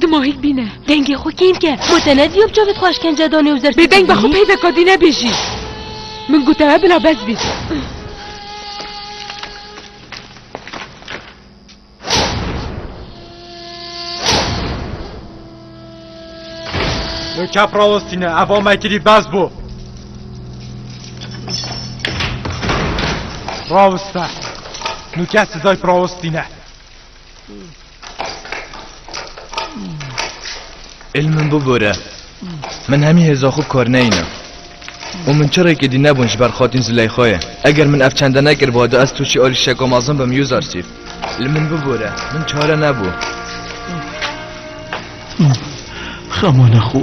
Dimahîk bîne. Dengê xwe kêm ke. Xwe te nedîyom çavê xwe eşkence danê û zerfî. Bêdeng be xwe peyve kadî nebêjî. Min gotewe bila bes bî. Min kep rawestîne eva me kirî bes bû. Rawiste. Min kes sizay rawestîne. Elmin bu bore. Min hemî hêza xwe kar neyîne. û min çi rêkê dî nebûn ji ber xatîn Zileyxayê. Eger min ev çende nekiribû hada ez tûşî alî şeko mezin bim yûz arsîf. Li min bibore, min çare nebû. Xemana xwe.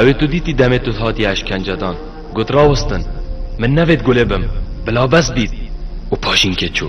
Ew tu dîtî demê tu hatî eşkencedan. Got rawestin. Min nevêt gulê bim. Bila bes dît. Û paşînkê çû.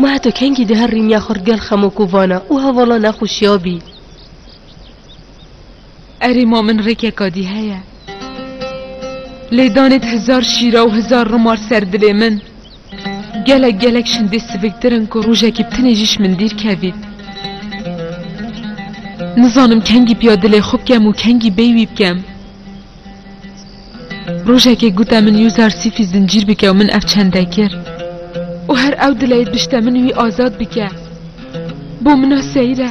Ma heta kengî di her rîniya xurt gel xemok û vana û hevala nexweşiya bî. Erê ma min rêkeka dî heye. Lê danê di hizar şîra û hizar rimar ser dilê min, gelek gelek şindê siviktir in ku rojekî bi tinê jî ji min dîr kevît. Nizanim kengî piya dilê xwe bikem û kengî bêy wî bikem. Rojekê gute min Yûzar Sîfî zincîr bike û min ev çende kir. Û her ew dileyê dibişte min wî azad bike. Bo min a seyre.